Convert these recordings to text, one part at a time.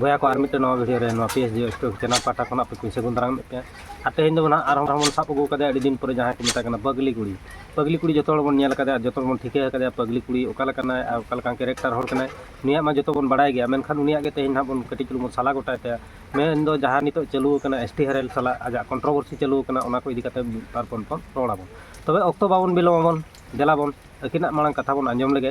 ᱵᱚᱭᱟ ᱠᱚ ᱟᱨ ᱢᱤᱫᱴᱮᱱ ᱱᱚᱣᱟ ᱵᱷᱤᱰᱤᱭᱳ ᱨᱮ ᱱᱚᱣᱟ P S G stock channel ᱯᱟᱦᱴᱟ ᱠᱷᱚᱱᱟᱜ ᱯᱮ ᱠᱩᱧ ᱥᱟᱹᱜᱩᱱ ᱫᱟᱨᱟᱢᱮᱫ ᱯᱮᱭᱟ ᱟᱨ ᱛᱮᱦᱮᱧ ᱫᱚ ᱱᱟᱦᱟᱜ ᱟᱨᱦᱚᱸ ᱵᱚᱱ ᱥᱟᱵ ᱟᱹᱜᱩ ᱠᱟᱫᱮᱭᱟ ᱟᱹᱰᱤ ᱫᱤᱱ ᱯᱚᱨᱮ ᱡᱟᱦᱟᱸᱭ ᱠᱚ ᱢᱮᱛᱟᱭ ᱠᱟᱱᱟ ᱯᱟᱜᱽᱞᱤ ᱠᱩᱲᱤ ᱯᱟᱜᱽᱞᱤ ᱠᱩᱲᱤ ᱡᱚᱛᱚ ᱦᱚᱲ ᱵᱚᱱ ᱧᱮᱞ ᱠᱟᱫᱮᱭᱟ ᱟᱨ ᱡᱚᱛᱚ ᱦᱚᱲ ᱵᱚᱱ ᱴᱷᱤᱠᱟᱹ ᱟᱠᱟᱫᱮᱭᱟ ᱯᱟᱜᱽᱞᱤ ᱠᱩᱲᱤ ᱚᱠᱟ ᱞᱮᱠᱟᱱᱟᱭ ᱟᱨ ᱚᱠᱟ ᱞᱮᱠᱟᱱ ᱠᱮᱨᱮᱠᱴᱟᱨ ᱦᱚᱲ ᱠᱟᱱᱟᱭ ᱱᱩᱭᱟᱜ ᱢᱟ ᱡᱚᱛᱚ ᱵᱚᱱ ᱵᱟᱲᱟᱭ ᱜᱮᱭᱟ ᱢᱮᱱᱠᱷᱟᱱ ᱩᱱᱤᱭᱟᱜ ᱜᱮ ᱛᱮᱦᱮᱧ ᱱᱟᱦᱟᱜ ᱵᱚᱱ ᱠᱟᱹᱴᱤᱡ ᱪᱩᱞᱩᱝ ᱵᱚᱱ ᱥᱟᱞᱟ ᱜᱚᱴᱟᱭ ᱛᱟᱭᱟ ᱢᱮᱱ ᱫᱚ ᱡᱟᱦᱟᱸ ᱱᱤᱛᱚᱜ ᱪᱟᱹᱞᱩ ᱟᱠᱟᱱᱟ ᱮᱥ ᱴᱤ ᱦᱮᱨᱮᱞ ᱥᱟᱞᱟᱜ ᱟᱡᱟᱜ ᱠᱚᱱᱴᱨᱳᱵᱷᱟᱨᱥᱤ ᱪᱟᱹᱞᱩ ᱟᱠᱟᱱᱟ ᱚᱱᱟ ᱠᱚ ᱤᱫᱤ ᱠᱟᱛᱮ ᱢᱤᱫ ᱵᱟᱨ ᱵᱚᱱ ᱨᱚᱲ ᱟᱵᱚᱱ ᱛᱚᱵᱮ ᱚᱠᱛᱚ ᱵᱟᱵᱚᱱ ᱵᱤᱞᱚᱢ ᱟᱵᱚᱱ ᱫᱮᱞᱟ ᱵᱚᱱ ᱟᱹᱠᱤᱱᱟᱜ ᱢᱟᱲᱟᱝ ᱠᱟᱛᱷᱟ ᱵᱚᱱ ᱟᱸᱡᱚᱢ ᱞᱮᱜᱮ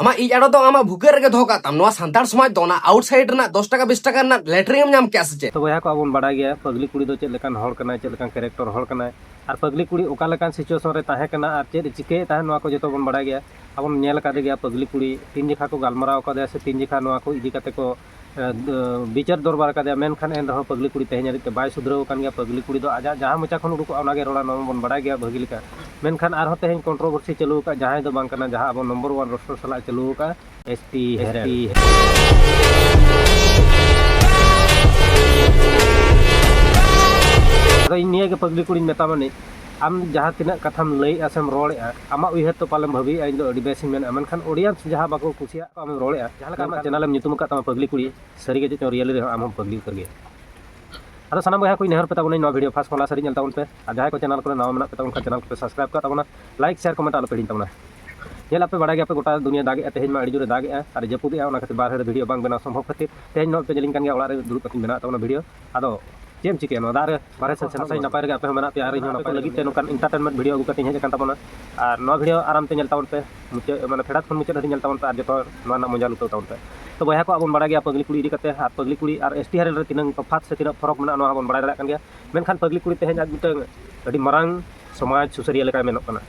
ᱟᱢᱟᱜ ᱤᱡ ᱟᱲᱚ ᱫᱚ ᱟᱢᱟᱜ ᱵᱷᱩᱜᱟᱹᱜ ᱨᱮᱜᱮ ᱫᱚᱦᱚ ᱠᱟᱜ ᱛᱟᱢ ᱱᱚᱣᱟ ᱥᱟᱱᱛᱟᱲ ᱥᱚᱢᱟᱡᱽ ᱫᱚ ᱚᱱᱟ ᱟᱣᱩᱴᱥᱟᱭᱤᱰ ᱨᱮᱱᱟᱜ ᱫᱚᱥ ᱴᱟᱠᱟ ᱵᱤᱥ ᱴᱟᱠᱟ ᱨᱮᱱᱟᱜ ᱞᱮᱴᱨᱤᱝ ᱮᱢ ᱧᱟᱢ ᱠᱮᱜᱼᱟ ᱥᱮ ᱪᱮᱫ ᱛᱚ ᱵᱚᱭᱦᱟ ᱠᱚ ᱟᱵᱚᱱ ᱵᱟᱲᱟᱭ ᱜᱮᱭᱟ ᱯᱟᱜᱽᱞᱤ ᱠᱩᱲᱤ ᱫᱚ ᱪᱮᱫ ᱞᱮᱠᱟᱱ ᱦᱚᱲ ᱠᱟᱱᱟᱭ ᱪᱮᱫ ᱞᱮᱠᱟᱱ ᱠᱮᱨᱮᱠᱴᱚᱨ ᱦᱚᱲ ᱠᱟᱱᱟᱭ ᱟᱨ ᱯᱟᱜᱽᱞᱤ ᱠᱩᱲᱤ ᱚᱠᱟ ᱞᱮᱠᱟᱱ ᱥᱤᱪᱩᱭᱮᱥᱚᱱ ᱨᱮ ᱛᱟᱦᱮᱸ ᱠᱟᱱᱟ ᱟᱨ ᱪᱮᱫ ᱪᱤᱠᱟᱹᱭᱮᱫ ᱛᱟᱦᱮᱸ ᱱᱚᱣᱟ ᱠᱚ ᱡᱚᱛᱚ ᱵᱚᱱ ᱵᱟᱲᱟᱭ ᱜᱮᱭᱟ ᱟᱵᱚᱱ ᱧᱮᱞ ᱟᱠᱟᱫᱮ ᱜᱮᱭᱟ ᱯᱟᱜᱽᱞᱤ ᱠᱩᱲᱤ ᱛᱤᱱ ᱡᱚᱠᱷᱟ ᱠᱚ ᱜᱟᱞᱢᱟᱨᱟᱣ ᱟᱠᱟᱫᱮᱭᱟ ᱥᱮ ᱛᱤᱱ ᱡᱚᱠᱷᱟ ᱱᱚᱣᱟ ᱠᱚ ᱤᱫᱤ ᱠᱟᱛᱮ ᱠᱚ ᱵᱤᱪᱟᱹᱨ ᱫᱚᱨᱵᱟᱨ ᱠᱟᱫᱮᱭᱟ ᱢᱮᱱᱠᱷᱟᱱ ᱮᱱ ᱨᱮᱦᱚᱸ ᱯᱟᱹᱜᱽᱞᱤ ᱠᱩᱲᱤ ᱛᱮᱦᱮᱧ ᱦᱟᱹᱨᱤᱡ ᱛᱮ ᱵᱟᱭ ᱥᱩᱫᱷᱨᱟᱹᱣ ᱟᱠᱟᱱ ᱜᱮᱭᱟ ᱯᱟᱹᱜᱽᱞᱤ ᱠᱩᱲᱤ ᱫᱚ ᱟᱡᱟᱜ ᱡᱟᱦᱟᱸ ᱢᱚᱪᱟ ᱠᱷᱚᱱ ᱩᱰᱩᱠᱚᱜᱼᱟ ᱚᱱᱟᱜᱮ ᱨᱚᱲᱟ ᱱᱚᱣᱟ ᱢᱟᱵᱚᱱ ᱵᱟᱰᱟᱭ ᱜᱮᱭᱟ ᱵᱷᱟᱹᱜᱤ ᱞᱮᱠᱟ ᱢᱮᱱᱠᱷᱟᱱ ᱟᱨᱦᱚᱸ ᱛᱮᱦᱮᱧ ᱠᱚᱱᱴᱨᱳᱵᱷᱟᱨᱥᱤ ᱪᱟᱹᱞᱩ ᱟᱠᱟᱫ ᱡᱟᱦᱟᱸᱭ ᱫᱚ ᱵᱟᱝ ᱠᱟᱱᱟ ᱡᱟᱦᱟᱸ ᱟᱵᱚ ᱱᱚᱢᱵᱚᱨ ᱚᱣᱟᱱ ᱨᱳᱥᱴᱚᱨ ᱥᱟᱞᱟᱜ ᱪᱟᱹᱞᱩ ᱟᱠᱟᱫ ᱮᱥ ᱯᱤ ᱮᱥ ᱯᱤ ᱟᱫᱚ ᱤᱧ ᱱᱤᱭᱟᱹᱜᱮ ᱯᱟᱹᱜᱽᱞᱤ ᱠᱩᱲᱤᱧ ᱢᱮᱛᱟᱢᱟ ᱱᱤᱡ ᱟᱢ ᱡᱟᱦᱟᱸ ᱛᱤᱱᱟᱹᱜ ᱠᱟᱛᱷᱟᱢ ᱞᱟᱹᱭᱮᱫᱼᱟ ᱥᱮᱢ ᱨᱚᱲᱮᱫᱼᱟ ᱟᱢᱟᱜ ᱩᱭᱦᱟᱹᱨ ᱛᱮ ᱯᱟᱞᱮᱢ ᱵᱷᱟᱹᱵᱤᱭᱮᱫᱼᱟ ᱤᱧ ᱫᱚ ᱟᱹᱰᱤ ᱵᱮᱥᱤᱧ ᱢᱮᱱᱮᱫᱼᱟ ᱢᱮᱱᱠᱷᱟᱱ ᱚᱰᱤᱭᱮᱱᱥ ᱡᱟᱦᱟᱸ ᱵᱟᱠᱚ ᱠᱩᱥᱤᱭᱟᱜ ᱠᱟᱱᱟ ᱟᱢᱮᱢ ᱨᱚᱲᱮᱫᱼᱟ ᱡᱟᱦᱟᱸ ᱞᱮᱠᱟ ᱟᱢᱟᱜ ᱪᱮᱱᱮᱞ ᱮᱢ ᱧᱩᱛᱩᱢ ᱟᱠᱟᱫ ᱛᱟᱢᱟ ᱯᱟᱜᱽᱞᱤ ᱠᱩᱲᱤ ᱥᱟᱹᱨᱤ ᱜᱮ ᱪᱮᱫ ᱪᱚᱝ ᱨᱤᱭᱮᱞᱤ ᱨᱮᱦᱚᱸ ᱟᱢ ᱦᱚᱸᱢ ᱯᱟᱜᱽᱞᱤ ᱩᱛᱟᱹᱨ ᱜᱮᱭᱟ ᱟᱫᱚ ᱥᱟᱱᱟᱢ ᱵᱚᱭᱦᱟ ᱠᱚᱧ ᱱᱮᱦᱚᱨ ᱯᱮ ᱛᱟᱵᱚᱱᱟᱹᱧ ᱱᱚᱣᱟ ᱵᱷᱤᱰᱤᱭᱳ ᱯᱷᱟᱥᱴ ᱠᱷᱚᱱ ᱞᱟᱥᱴ ᱦᱟᱹᱨᱤᱡ ᱧᱮᱞ ᱛᱟᱵᱚᱱ ᱯᱮ ᱟᱨ ᱡᱟᱦᱟᱸᱭ ᱠᱚ ᱪᱮᱱᱮᱞ ᱠᱚᱨᱮ ᱱᱟᱣᱟ ᱢᱮᱱᱟᱜ ᱯᱮ ᱛᱟᱵᱚᱱ ᱠᱷᱟᱱ ᱪᱮᱱᱮᱞ ᱠᱚᱯᱮ ᱥᱟᱵᱥᱠᱨᱟᱭᱤᱵ ᱠᱟᱜ ᱛᱟᱵᱚᱱᱟ ᱞᱟᱭᱤᱠ ᱥᱮᱭᱟᱨ ᱠᱚᱢᱮᱱᱴ ᱟᱞᱚᱯᱮ ᱦᱤᱲᱤᱧ ᱛᱟᱵᱚᱱᱟ ᱧᱮᱞ ᱟᱯᱮ ᱵᱟᱲᱟᱭ ᱜᱮᱭᱟ ᱯᱮ ᱜᱚᱴᱟ ᱫᱩᱱᱤᱭᱟᱹ ᱫᱟᱜᱮᱜᱼᱟ ᱛᱮᱦᱮᱧ ᱢᱟ ᱟᱹᱰᱤ ᱡᱳᱨᱮ ᱫᱟᱜᱮᱜᱼᱟ ᱟᱨ ᱡᱟᱹᱯᱩᱫᱮᱜᱼᱟ ᱚᱱᱟ ᱠᱷᱟᱹᱛᱤᱨ ᱵᱟᱨᱦᱮ ᱨᱮ ᱵᱷᱤᱰᱤᱭᱳ ᱵᱟᱝ ᱵᱮᱱᱟᱣ ᱥᱚᱢᱵᱷᱚᱵ ᱠᱷᱟᱹᱛᱤᱨ ᱛᱮᱦᱮᱧ ᱱᱚᱜᱼᱚᱭ ᱯᱮ ᱧᱮᱞᱤᱧ ᱠᱟᱱ ᱜᱮᱭᱟ ᱚᱲᱟᱜ ᱨᱮ ᱫᱩᱲᱩᱵ ᱠᱟᱛᱮᱧ ᱵᱮᱱᱟᱣᱮᱫ ᱛᱟᱵᱚᱱᱟ ᱵᱷᱤᱰᱤᱭᱳ ᱟᱫᱚ ᱪᱮᱫ ᱮᱢ ᱪᱤᱠᱟᱹᱭᱟ ᱱᱚᱣᱟ ᱫᱟᱜ ᱨᱮ ᱵᱟᱨᱦᱮ ᱥᱮᱫ ᱥᱮᱱᱚᱜ ᱥᱟᱹᱦᱤᱡ ᱱᱟᱯᱟᱭ ᱨᱮᱜᱮ ᱟᱯᱮ ᱦᱚᱸ ᱢᱮᱱᱟᱜ ᱯᱮᱭᱟ ᱟᱨ ᱤᱧ ᱦᱚᱸ ᱱᱟᱯᱟᱭ ᱞᱟᱹᱜᱤᱫ ᱛᱮ ᱱᱚᱝᱠᱟᱱ ᱤᱱᱴᱟᱨᱴᱮᱱᱢᱮᱱᱴ ᱵᱷᱤᱰᱤᱭᱳ ᱟᱹᱜᱩ ᱠᱟᱛᱮᱧ ᱦᱮᱡ ᱟᱠᱟᱱ ᱛᱟᱵᱚᱱᱟ ᱟᱨ ᱱᱚᱣᱟ ᱵᱷᱤᱰᱤᱭᱳ ᱟᱨᱟᱢ ᱛᱮ ᱧᱮᱞ ᱛᱟᱵᱚᱱ ᱯᱮ ᱢᱩᱪᱟᱹᱫ ᱢᱟᱱᱮ ᱯᱷᱮᱰᱟᱛ ᱠᱷᱚᱱ ᱢᱩᱪᱟᱹᱫ ᱫᱷᱟᱹᱵᱤᱡ ᱧᱮᱞ ᱛᱟᱵᱚᱱ ᱯᱮ ᱟᱨ ᱡᱚᱛᱚ ᱱᱚᱣᱟ ᱨᱮᱱᱟᱜ ᱢᱚᱡᱟ ᱞᱩᱴᱟᱹᱣ ᱛᱟᱵᱚᱱ ᱯᱮ ᱛᱚ ᱵᱚᱭᱦᱟ ᱠᱚ ᱟᱵᱚᱱ ᱵᱟᱲᱟᱭ ᱜᱮᱭᱟ ᱯᱟᱹᱜᱽᱞᱤ ᱠᱩᱲᱤ ᱤᱫᱤ ᱠᱟᱛᱮ ᱟᱨ ᱯᱟᱹᱜᱽᱞᱤ ᱠᱩᱲᱤ ᱟᱨ ᱮᱥ ᱴᱤ ᱦᱟᱨᱮᱞ ᱨᱮ ᱛᱤᱱᱟᱹᱝ ᱛᱚᱯᱷᱟᱛ ᱥᱮ ᱛᱤᱱᱟᱹᱜ ᱯᱷᱚᱨᱚᱠ ᱢᱮᱱᱟᱜᱼᱟ ᱱᱚᱣᱟ ᱦᱚᱸᱵᱚᱱ ᱵᱟᱲᱟᱭ ᱫᱟᱲᱮᱭᱟᱜ ᱠᱟᱱ ᱜᱮᱭᱟ ᱢᱮᱱᱠᱷᱟᱱ ᱯᱟᱹᱜᱽᱞᱤ ᱠᱩᱲᱤ ᱛᱮᱦᱮᱧ ᱟᱡ ᱢᱤᱫᱴᱟᱹᱝ ᱟᱹᱰᱤ ᱢᱟᱨᱟᱝ ᱥᱚᱢᱟᱡᱽ ᱥᱩᱥᱟᱹᱨᱤᱭᱟᱹ ᱞᱮᱠᱟᱭ ᱢᱮᱱᱚᱜ ᱠᱟᱱᱟ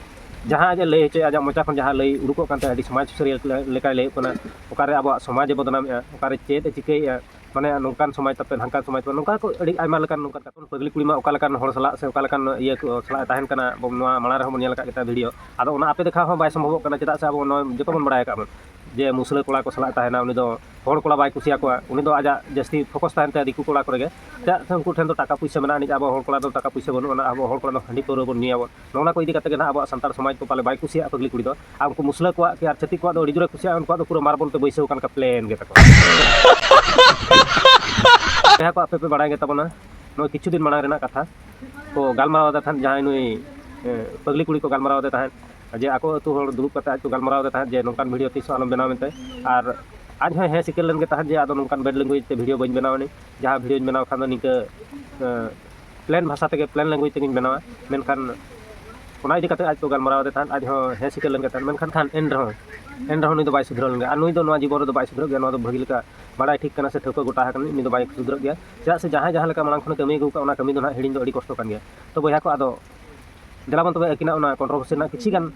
ᱡᱟᱦᱟᱸ ᱟᱡ ᱮ ᱞᱟᱹᱭ ᱦᱚᱪᱚᱭᱮᱫᱼᱟ ᱟᱡᱟᱜ ᱢᱚᱪᱟ ᱠᱷᱚᱱ ᱡᱟᱦᱟᱸ ᱞᱟᱹᱭ ᱩᱰᱩᱠᱚᱜ ᱠᱟᱱ ᱛᱟᱭᱟ ᱟᱹᱰᱤ ᱥᱚᱢᱟᱡᱽ ᱥᱩᱥᱟᱹᱨᱤᱭᱟᱹ ᱞᱮᱠᱟᱭ ᱞᱟᱹᱭᱚᱜ ᱠᱟᱱᱟ ᱚᱠᱟᱨᱮ ᱟᱵᱚᱣᱟᱜ ᱥᱚᱢᱟᱡᱽ ᱮ ᱵᱚᱫᱽᱱᱟᱢᱮᱫᱼᱟ ᱚᱠᱟᱨᱮ ᱪᱮᱫ ᱮ ᱪᱤᱠᱟᱹᱭᱮᱫᱼᱟ ᱢᱟᱱᱮ ᱱᱚᱝᱠᱟᱱ ᱥᱚᱢᱟᱡᱽ ᱛᱟᱯᱮ ᱦᱟᱱᱠᱟᱱ ᱥᱚᱢᱟᱡᱽ ᱛᱟᱯᱮ ᱱᱚᱝᱠᱟ ᱠᱚ ᱟᱹᱰᱤ ᱟᱭᱢᱟ ᱞᱮᱠᱟᱱ ᱱᱚᱝᱠᱟᱱ ᱠᱟᱛᱷᱟ ᱠᱚ ᱯᱟᱹᱜᱽᱞᱤ ᱠᱩᱲᱤ ᱢᱟ ᱚᱠᱟ ᱞᱮᱠᱟᱱ ᱦᱚᱲ ᱥᱟᱞᱟᱜ ᱥᱮ ᱚᱠᱟ ᱞᱮᱠᱟᱱ ᱤᱭᱟᱹ ᱠᱚ ᱥᱟᱞᱟᱜ ᱮ ᱛᱟᱦᱮᱱ ᱠᱟᱱᱟ ᱟᱵᱚ ᱱᱚᱣᱟ ᱢᱟᱲᱟᱝ ᱨᱮᱦᱚᱸ ᱵᱚᱱ ᱧᱮᱞ ᱟᱠᱟᱫ ᱜᱮᱛᱟᱭᱟ ᱵᱷᱤᱰᱭᱳ ᱟᱫᱚ ᱚᱱᱟ ᱟᱯᱮ ᱫᱮᱠᱷᱟᱣ ᱦᱚᱸ ᱵᱟᱭ ᱥᱚᱢᱵᱷᱚᱵᱚᱜ ᱠᱟᱱᱟ ᱪᱮᱫᱟᱜ ᱥᱮ ᱟᱵᱚ ᱱᱚᱣᱟ ᱡᱚᱛᱚ ᱵᱚᱱ ᱵᱟᱲᱟᱭ ᱟᱠᱟᱫ ᱵᱚᱱ ᱡᱮ ᱢᱩᱥᱞᱟᱹ ᱠᱚᱲᱟ ᱠᱚ ᱥᱟᱞᱟᱜ ᱮ ᱛᱟᱦᱮᱱᱟ ᱩᱱᱤ ᱫᱚ ᱦᱚᱲ ᱠᱚᱲᱟ ᱵᱟᱭ ᱠᱩᱥᱤᱭᱟᱠᱚᱣᱟ ᱩᱱᱤ ᱫᱚ ᱟᱡᱟᱜ ᱡᱟᱹᱥᱛᱤ ᱯᱷᱳᱠᱚᱥ ᱛᱟᱦᱮᱱ ᱛᱟᱭᱟ ᱫᱤᱠᱩ ᱠᱚᱲᱟ ᱠᱚᱨᱮᱜᱮ ᱪᱮᱫᱟᱜ ᱥᱮ ᱩᱱᱠᱩ ᱴᱷᱮᱱ ᱫᱚ ᱴᱟᱠᱟ ᱯᱩᱭᱥᱟᱹ ᱢᱮᱱᱟᱜ ᱟᱹᱱᱤᱡ ᱟᱵᱚ ᱦᱚᱲ ᱠᱚᱲᱟ ᱫᱚ ᱴᱟᱠᱟ ᱯᱩᱭᱥᱟᱹ ᱵᱟᱹᱱᱩᱜ ᱟᱱᱟ ᱟᱵᱚ ᱦᱚᱲ ᱠᱚᱲᱟ ᱫᱚ ᱦᱟᱺᱰᱤ ᱯᱟᱹᱣᱨᱟᱹ ᱵᱚᱱ ᱧᱩᱭᱟᱵᱚᱱ ᱱᱚᱜᱼᱚ ᱱᱟ ᱠᱚ ᱤᱫᱤ ᱠᱟᱛᱮ ᱜᱮ ᱱᱟᱦᱟᱜ ᱟᱵᱚᱣᱟᱜ ᱥᱟᱱᱛᱟᱲ ᱥᱚᱢᱟᱡᱽ ᱫᱚ ᱯᱟᱞᱮ ᱵᱟᱭ ᱠᱩᱥᱤᱭᱟᱜᱼᱟ ᱯᱟᱹᱜᱽᱞᱤ ᱠᱩᱲᱤ ᱫᱚ ᱟᱨ ᱩᱱᱠᱩ ᱢᱩᱥᱞᱟᱹ ᱠᱚᱣᱟᱜ ᱠᱤ ᱟᱨ ᱪᱷᱟᱹᱛᱤᱠ ᱠᱚᱣᱟᱜ ᱫᱚ ᱟᱹᱰᱤ ᱡᱳᱨᱮ ᱠᱩᱥᱤᱭᱟᱜᱼᱟ ᱩᱱᱠᱩᱣᱟᱜ ᱫᱚ ᱯᱩᱨᱟᱹ ᱢᱟᱨᱵᱚᱞ ᱛᱮ ᱵᱟᱹᱭᱥᱟᱹᱣ ᱟᱠᱟᱱ ᱞᱮᱠᱟ ᱯᱞᱮᱱ ᱜᱮ ᱛᱟᱠᱚ ᱡᱟᱦᱟᱸ ᱠᱚ ᱟᱯᱮ ᱯᱮ ᱵᱟᱲᱟᱭ ᱜᱮ ᱛᱟᱵᱚᱱᱟ ᱱᱚᱜᱼᱚᱭ ᱠᱤᱪᱷᱩ ᱫᱤᱱ ᱢᱟᱲᱟᱝ ᱨᱮᱱᱟᱜ ᱠᱟᱛᱷᱟ ᱠᱚ ᱜᱟᱞᱢᱟᱨᱟᱣ ᱮᱫᱟ ᱛᱟᱦᱮᱸᱫ ᱡᱟᱦᱟᱸᱭ ᱱᱩᱭ ᱯᱟᱹᱜᱽᱞᱤ ᱠᱩᱲᱤ ᱠᱚ ᱜᱟᱞᱢᱟᱨᱟᱣ ᱮᱫᱟ ᱛᱟᱦᱮᱸᱫ ᱡᱮ ᱟᱠᱚ ᱟᱹᱛᱩ ᱦᱚᱲ ᱫᱩᱲᱩᱵ ᱠᱟᱛᱮ ᱟᱡ ᱠᱚ ᱜᱟᱞᱢᱟᱨᱟᱣ ᱮᱫᱟ ᱛᱟᱦᱮᱸᱫ ᱡᱮ ᱱᱚᱝᱠᱟᱱ ᱵᱷᱤᱰᱤᱭᱳ ᱛᱤᱥ ᱦᱚᱸ ᱟᱞᱚᱢ ᱵᱮᱱᱟᱣ ᱢᱮᱱᱛᱮ ᱟᱨ ᱟᱡ ᱦᱚᱸ ᱦᱮᱸ ᱥᱤᱠᱟᱹᱨ ᱞᱮᱱ ᱜᱮ ᱛᱟᱦᱮᱸᱫ ᱡᱮ ᱟᱫᱚ ᱱᱚᱝᱠᱟᱱ ᱵᱮᱰ ᱞᱮᱝᱜᱩᱭᱮᱡᱽ ᱛᱮ ᱵᱷᱤᱰᱤᱭᱳ ᱵᱟᱹᱧ ᱵᱮᱱᱟᱣᱟ ᱡᱟᱦᱟᱸ ᱵᱷᱤᱰᱤᱭᱳᱧ ᱵᱮᱱᱟᱣ ᱠᱷᱟᱱ ᱫᱚ ᱱᱤᱝᱠᱟᱹ ᱯᱞᱮᱱ ᱵᱷᱟᱥᱟ ᱛᱮᱜᱮ ᱯᱞᱮᱱ ᱞᱮᱝᱜᱩᱭᱮᱡᱽ ᱛᱮᱜᱮᱧ ᱵᱮᱱᱟᱣᱟ ᱢᱮᱱᱠᱷᱟᱱ ᱚᱱᱟ ᱤᱫᱤ ᱠᱟᱛᱮᱫ ᱟᱡ ᱠᱚ ᱜᱟᱞᱢᱟᱨᱟᱣ ᱟᱫᱮ ᱛᱟᱦᱮᱸᱫ ᱟᱡ ᱦᱚᱸ ᱦᱮᱸ ᱥᱤᱠᱟᱹᱨ ᱞᱮᱱ ᱜᱮ ᱛᱟᱦᱮᱸᱫ ᱢᱮᱱᱠᱷᱟᱱ ᱠᱷᱟᱱ ᱮᱱ ᱨᱮᱦᱚᱸ ᱮᱱ ᱨᱮᱦᱚᱸ ᱱᱩᱭ ᱫᱚ ᱵᱟᱭ ᱥᱩᱫᱷᱨᱟᱹᱣ ᱞᱮᱱ ᱜᱮᱭᱟ ᱟᱨ ᱱᱩᱭ ᱫᱚ ᱱᱚᱣᱟ ᱡᱤᱵᱚᱱ ᱨᱮᱫᱚ ᱵᱟᱭ ᱥᱩᱫᱷᱨᱟᱹᱜ ᱜᱮᱭᱟ ᱱᱚᱣᱟ ᱫᱚ ᱵᱷᱟᱹᱜᱤ ᱞᱮᱠᱟ ᱵᱟᱲᱟᱭ ᱴᱷᱤᱠ ᱠᱟᱱᱟ ᱥᱮ ᱴᱷᱟᱹᱣᱠᱟᱹ ᱜᱚᱴᱟ ᱟᱠᱟᱱᱟ ᱱᱩᱭ ᱫᱚ ᱵᱟᱭ ᱥᱩᱫᱷᱨᱟᱹᱜ ᱜᱮᱭᱟ ᱪᱮᱫᱟᱜ ᱥᱮ ᱡᱟᱦᱟᱸᱭ ᱡᱟᱦᱟᱸ ᱞᱮᱠᱟ ᱢᱟᱲᱟᱝ ᱠᱷᱚᱱᱮ ᱠᱟᱹᱢᱤ ᱟᱹᱜᱩ ᱟᱠᱟᱫᱼᱟ ᱚᱱᱟ ᱠᱟᱹᱢᱤ ᱫᱚ ᱱᱟᱦᱟᱜ ᱦᱤᱲᱤᱧ ᱫᱚ ᱟᱹᱰᱤ ᱠᱚᱥᱴᱚ ᱠᱟᱱ ᱜᱮᱭᱟ ᱛᱚ ᱵᱚᱭᱦᱟ ᱠᱚ ᱟᱫᱚ ᱫᱮᱞᱟᱵᱚᱱ ᱛᱚᱵᱮ ᱟᱹᱠᱤᱱᱟᱜ ᱚᱱᱟ ᱠᱚᱱᱴᱨᱳᱵᱷᱟᱨᱥᱤ ᱨᱮᱱᱟᱜ ᱠᱤᱪᱷᱤ ᱜᱟᱱ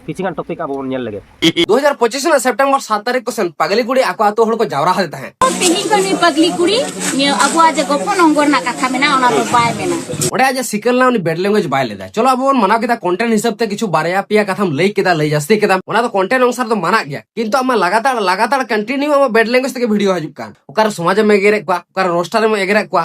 ᱠᱤᱪᱷᱤ ᱜᱟᱱ ᱴᱚᱯᱤᱠ ᱟᱵᱚ ᱵᱚᱱ ᱧᱮᱞ ᱞᱮᱜᱮ 2025 ᱨᱮᱱᱟᱜ ᱥᱮᱯᱴᱮᱢᱵᱚᱨ 7 ᱛᱟᱹᱨᱤᱠᱷ ᱠᱚᱥᱮᱱ ᱯᱟᱜᱞᱤ ᱠᱩᱲᱤ ᱟᱠᱚ ᱟᱛᱳ ᱦᱚᱲ ᱠᱚ ᱡᱟᱣᱨᱟ ᱦᱟᱫᱮ ᱛᱟᱦᱮᱸ ᱛᱮᱦᱮᱧ ᱫᱚ ᱱᱩᱭ ᱯᱟᱜᱞᱤ ᱠᱩᱲᱤ ᱱᱤᱭᱟᱹ ᱟᱵᱚᱣᱟᱜ ᱡᱮ ᱜᱚᱯᱚ ᱱᱚᱝᱜᱚᱨ ᱨᱮᱱᱟᱜ ᱠᱟᱛᱷᱟ ᱢᱮᱱᱟᱜ ᱚᱱᱟ ᱫᱚ ᱵᱟᱭ ᱢᱮᱱᱟ ᱚᱸᱰᱮ ᱟᱡ ᱥᱤᱠᱟᱹᱞ ᱱᱟ ᱩᱱᱤ ᱵᱮᱰ ᱞᱮᱝᱜᱩᱭᱮᱡ ᱵᱟᱭ ᱞᱮᱫᱟ ᱪᱚᱞᱚ ᱟᱵᱚ ᱵᱚᱱ ᱢᱟᱱᱟᱣ ᱠᱮᱫᱟ ᱠᱚᱱᱴᱮᱱᱴ ᱦᱤᱥᱟᱹᱵ ᱛᱮ ᱠᱤᱪᱷᱩ ᱵᱟᱨᱭᱟ ᱯᱮᱭᱟ ᱠᱟᱛᱷᱟᱢ ᱞᱟᱹᱭ ᱠᱮᱫᱟ ᱞᱟᱹᱭ ᱡᱟᱹᱥᱛᱤ ᱠᱮᱫᱟ ᱚᱱᱟ ᱫᱚ ᱠᱚᱱᱴᱮᱱᱴ ᱚᱱᱩᱥᱟᱨ ᱫᱚ ᱢᱟᱱᱟᱜ ᱜᱮᱭᱟ ᱠᱤᱱᱛᱩ ᱟᱢᱟᱜ ᱞᱟᱜᱟᱛᱟᱲ ᱞᱟᱜᱟᱛᱟᱲ ᱠᱚᱱᱴᱤᱱᱤᱭᱩ ᱟᱢᱟᱜ ᱵᱮᱰ ᱞᱮᱝᱜᱩᱭᱮᱡ ᱛᱮᱜᱮ ᱵᱷᱤᱰᱤᱭᱳ ᱦᱤᱡᱩᱜ ᱠᱟᱱ ᱚᱠᱟᱨᱮ ᱥᱚᱢᱟᱡᱮᱢ ᱮᱜᱮᱨᱮᱫ ᱠᱚᱣᱟ ᱚᱠᱟᱨᱮ ᱨᱳᱥᱴᱟᱨᱮᱢ ᱮᱜᱮᱨᱮᱫ ᱠᱚᱣᱟ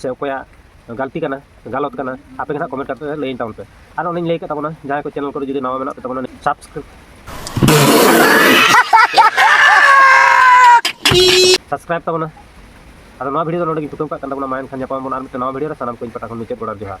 ᱥᱮ ᱚᱠᱚᱭᱟᱜ ᱜᱟᱞᱛᱤ ᱠᱟᱱᱟ ᱜᱟᱞᱚᱛ ᱠᱟᱱᱟ ᱟᱯᱮ ᱜᱮ ᱦᱟᱸᱜ ᱠᱚᱢᱮᱱᱴ ᱠᱟᱛᱮ ᱞᱟᱹᱭ ᱛᱟᱵᱚᱱ ᱯᱮ ᱟᱨ ᱚᱱᱮᱧ ᱞᱟᱹᱭ ᱠᱟᱜ ᱛᱟᱵᱚᱱᱟ ᱡᱟᱦᱟᱸᱭ ᱠᱚ ᱪᱮᱱᱮᱞ ᱠᱚᱨᱮ ᱡᱩᱫᱤ ᱱᱟᱣᱟ ᱢᱮᱱᱟᱜ ᱯᱮ ᱛᱟᱵᱚᱱᱟ ᱥᱟᱵᱥᱠᱨᱟᱭᱤᱵ ᱥᱟᱵᱥᱠᱨᱟᱭᱤᱵ ᱛᱟᱵᱚᱱᱟ ᱟᱫᱚ ᱱᱚᱣᱟ ᱵᱷᱤᱰᱤᱭᱳ ᱫᱚ ᱱᱚᱰᱮ ᱜᱤᱧ ᱛᱩᱠᱟᱹᱣ ᱠᱟᱜ ᱠᱟᱱ ᱛᱟᱵᱚᱱᱟ ᱢᱟ ᱮᱱᱠᱷᱟᱱ ᱧᱟᱯᱟᱢ ᱵᱚᱱ ᱟᱨ ᱢᱤᱫᱴᱟᱝ ᱱᱟᱣᱟ ᱵᱷᱤᱰᱤᱭᱳ ᱨᱮ ᱥᱟᱱᱟᱢ ᱠᱚᱧ ᱯᱟᱴᱟ ᱠᱷᱚᱱ ᱢᱩᱪᱟᱹᱫ ᱜᱚᱰᱟᱨ ᱡᱚᱦᱟᱨ